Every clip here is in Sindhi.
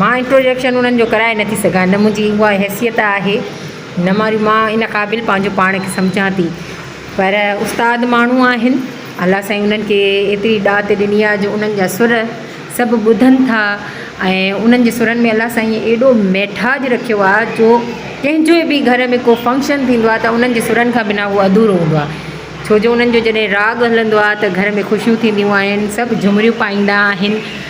مان انٽروڊڪشن انهن جو ڪرائي نه ٿي سگهان، نه منهنجي اها حيثيت آهي، نه وري مان ان قابل پنهنجو پاڻ کي سمجهان ٿي. پر استاد ماڻهو آهن، الله سائين انهن کي ايتري ڏات ڏني آهي جو انهن جا سر سڀ ٻڌن ٿا ۽ انهن جي سرن ۾ الله سائينء ايڏو ميٺاج رکيو آهي جو ڪنهن جي به گهر ۾ ڪو فنڪشن ٿيندو آهي ته انهن جي سرن کان بنا اهو اڌورو هوندو آهي. ڇو جو انهن جو جڏهن راڳ هلندو آهي ته گهر ۾ خوشيون ٿينديون آهن، سڀ جهومريون پائيندا آهن.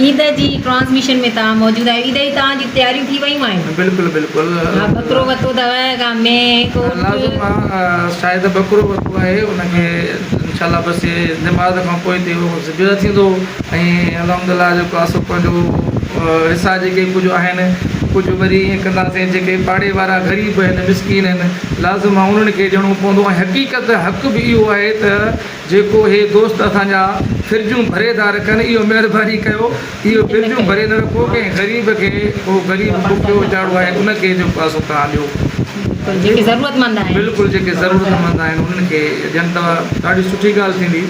عيد جي ٽرانسميشن ۾ توهان موجود آهيو عيد جي توهان جي تياريون ٿي ويون آهن. بلڪل بلڪل. ها ٻڪرو ورتو اٿو ڪا مينهن هڪ اٺ. لازم آ شايد ٻڪرو ورتو آهي ان کي انشاء الله بس هي نماز کان پوء تي اهو ذبح ٿيندو ۽ الحمد الله جيڪو آسو پنهنجو حصا جيڪي ڪجهه آهن ڪجهه وري ائين ڪنداسين جيڪي پاڙي وارا غريب آهن مسڪين آهن لازم آ انهن کي ڏيڻو پوندو ۽ حقيقت حق به اهو آهي ته جيڪو هي دوست اسان جا فرجون ڀري ٿا رکن اهو مهرباني ڪيو اهو فرجون ڀري نه رکو ڪنهن غريب کي ڪو غريب بکيو ويچارو آهي ان کي جو پاسو توهان ڏيو بلڪل جيڪي ضرورت مند آهن. بلڪل جيڪي ضرورت مند آهن انهن کي ڏين ته ڏاڍي سٺي ڳالهه ٿيندي.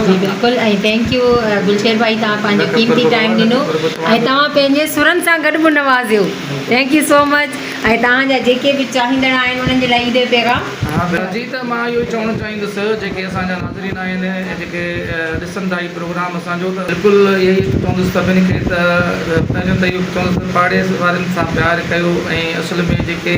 جي بلڪل ۽ ٿينڪ يو گلشير ڀائي توهان پنهنجو قيمتي ٽائيم ڏنو ۽ توهان پنهنجي سرن سان گڏ به نوازيو ٿينڪ يو سو مچ. ۽ توهان جا جيڪي به چاهيندڙ آهن انهن جي لاء عيد جو پيغام. جي ته مان اهو ئي چوڻ چاهيندس جيڪي اسان جا ناظرين آهن ۽ جيڪي ڏسن ٿا هي پروگرام اسان جو ته. بلڪل اهي ئي چوندس سڀني کي ته پهريون ته اهو چوندس ته پاڙي وارن سان پيار ڪيو ۽ اصل ۾ جيڪي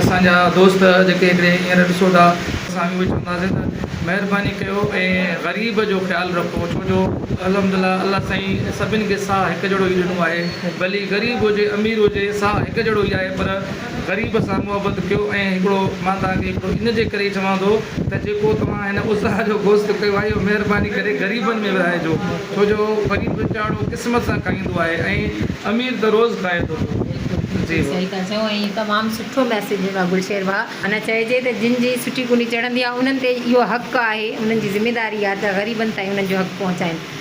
اسان جا دوست جيڪي هڪڙي هينئر ڏسو ٿا ته اسان اهو ئي چونداسين ته مهرباني ڪيو ۽ غريب جو خيال رکو ڇو جو الحمدلله الله سائين سڀني کي ساهه هڪ جهڙو ئي ڏنو آهي. ڀلي غريب هجي امير هجي سا هڪ جهڙو ئي آهي پر غريب سان محبت ڪيو ۽ هڪڙو مان توهان کي هڪڙو ان جي ڪري چوان ٿو ته جيڪو توهان هن اضحيٰ جو گوشت ڪيو آهي اهو مهرباني ڪري غريبن ۾ ورهائجو ڇو جو غريب ويچارو قسمت سان کائيندو آهي ۽ امير ته روز کائي ٿو پيو جي بس. صحيح ٿا چئو ۽ تمام سٺو ميسيج ڏنو گلشير ڀاء معنيٰ چئجي ته جن جي سٺي ڪوني چڙهندي آهي انهن تي اهو حق آهي انهن جي ذميداري آهي ته غريبن تائين انهن جو حق پهچائين.